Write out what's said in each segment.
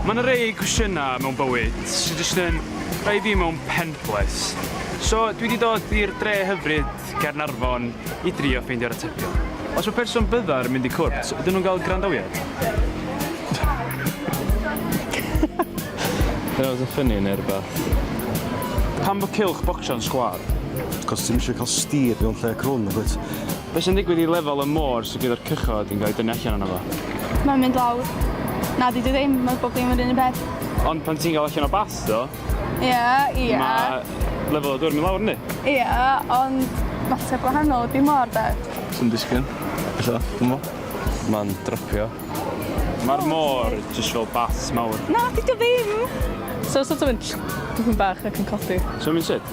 Mae 'na rei cwestiynau mewn bywyd sy jyst yn rhoi fi mewn pen-blês. So, dwi 'di dod i'r dre hyfryd, Caernarfon, i drio ffeindio'r atebion. Os mae person byddar yn mynd i cwrt, ydyn nhw'n cael gwrandawiad? That was a funny neu rhywbeth. Pam bod cylch bocsio'n sgwâr? Cos ti'm isio cael steer mewn lle crwn, nagwyt? Be sy'n digwydd i lefel y môr sydd gyda'r cychod yn cael ei dynnu allan yno fo? Mae'n mynd lawr. Na, dydy o ddim, mae bob dim yr un un peth. Ond pan ti'n cael allan o bath do... Ia, ia. ...mae lefel y dŵr yn mynd lawr yndi? Ia, ond mater gwahanol ydy môr de. Swn disgyn, ella, dwmbo. Mae'n drypio. Mae'r môr jyst fel bath mawr. Na, dydy o ddim! So sort of yn tsh dipyn bach ac yn codi. So mae'n sut?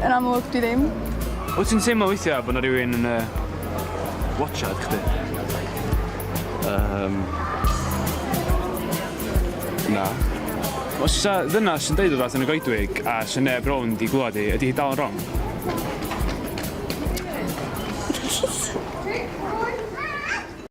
Yn amlwg, dwi ddim. Wyt ti'n teimlo weithiau bod yna rhywun yn uh, watchad chdi? Um, na. Os ysa ddynas yn deud rhywbeth yn y goedwig a sy'n neb rown di glwad i, ydy hi dal yn wrong?